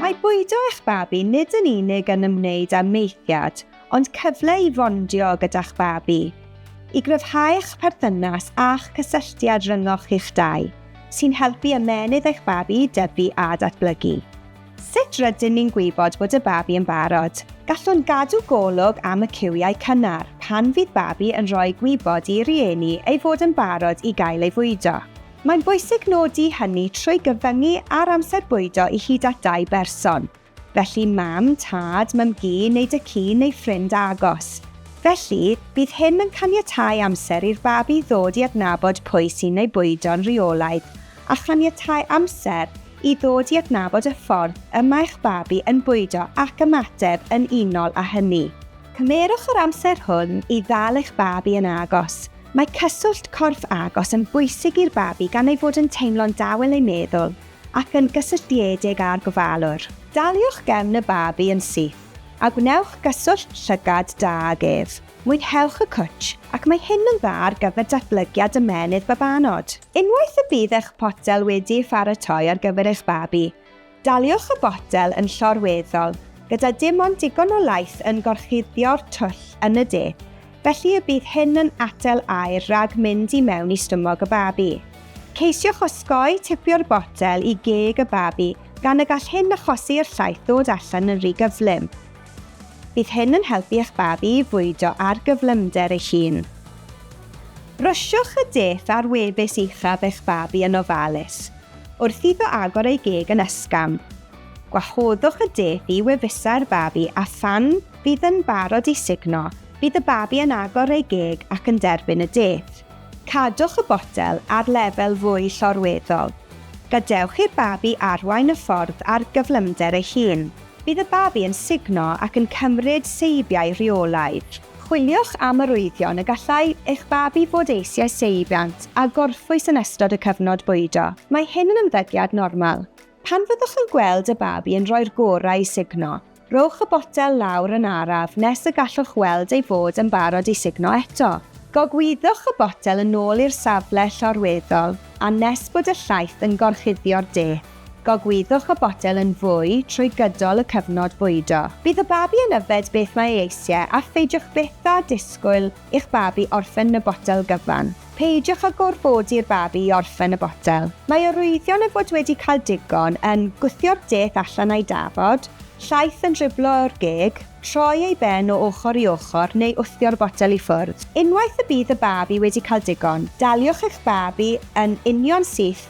Mae bwydo eich babi nid yn unig yn ymwneud â maethiad, ond cyfle i fondio gyda'ch babi. I gryfhau eich perthynas a'ch cysylltiad rhyngoch chi'ch dau, sy'n helpu ymennydd eich babi i dyfu a datblygu. Sut rydyn ni'n gwybod bod y babi yn barod? Gallwn gadw golwg am y cywiau cynnar pan fydd babi yn rhoi gwybod i rieni ei fod yn barod i gael ei fwydo. Mae'n bwysig nodi hynny trwy gyfyngu ar amser bwydo i hyd at dau berson, felly mam, tad, mam-gu neu dŷ cu neu ffrind agos. Felly, bydd hyn yn caniatáu amser i'r babi ddod i adnabod pwy sy'n ei bwydo'n rheolaidd a chaniatáu amser i ddod i adnabod y ffordd y mae'ch babi yn bwydo ac ymateb yn unol â hynny. Cymerwch yr amser hwn i ddal eich babi yn agos, Mae cyswllt corff agos yn bwysig i'r babi gan ei fod yn teimlo'n dawel ei meddwl ac yn gysylltiedig â'r gofalwr. Daliwch gefn y babi yn syth a gwnewch gyswllt llygad da ag ef. Mwynhewch y cwtsh, ac mae hyn yn dda ar gyfer datblygiad ymennydd babanod. Unwaith y bydd eich potel wedi'i pharatoi ar gyfer eich babi, Daliwch y botel yn llorweddol, gyda dim ond digon o laeth yn gorchuddio'r twll yn y de, felly y bydd hyn yn atal aer rhag mynd i mewn i stumog y babi. Ceisiwch osgoi tipio'r botel i geg y babi gan y gall hyn achosi i'r llaeth ddod allan yn rhy gyflym. Bydd hyn yn helpu eich babi i fwydo ar gyflymder ei hun. Brwsiwch y dull a'r wefus uchaf eich babi yn ofalus wrth iddo agor ei geg yn ysgafn. Gwahoddwch y dull i wefusau'r babi a phan fydd yn barod i sugno, bydd y babi yn agor ei geg ac yn derbyn y dull. Cadwch y botel ar lefel fwy llorweddol. Gadewch i'r babi arwain y ffordd ar gyflymder ei hun. Bydd y babi yn sugno ac yn cymryd seibiau rheolaidd. Chwiliwch am arwyddion y gallai eich babi fod eisiau seibiant a gorffwys yn ystod y cyfnod bwydo. Mae hyn yn ymddygiad normal. Pan fyddwch yn gweld y babi yn rhoi'r gorau i sugno, rhowch y botel lawr yn araf nes y gallwch weld ei fod yn barod i sugno eto. Gogwyddwch y botel yn ôl i'r safle llorweddol a nes bod y llaeth yn gorchuddio'r de. Gogwyddwch y botel yn fwy trwy gydol y cyfnod bwydo. Bydd y babi yn yfed beth mae ei eisiau a pheidiwch byth â disgwyl i'ch babi orffen y botel gyfan. Peidiwch â gorfodi'r babi i orffen y botel. Mae arwyddion ei fod wedi cael digon yn gwthio'r deth allan a'i dafod, llaeth yn driblo o'r geg, troi ei ben o ochr i ochr neu wthio'r botel i ffwrdd. Unwaith y bydd y babi wedi cael digon, daliwch eich babi yn union syth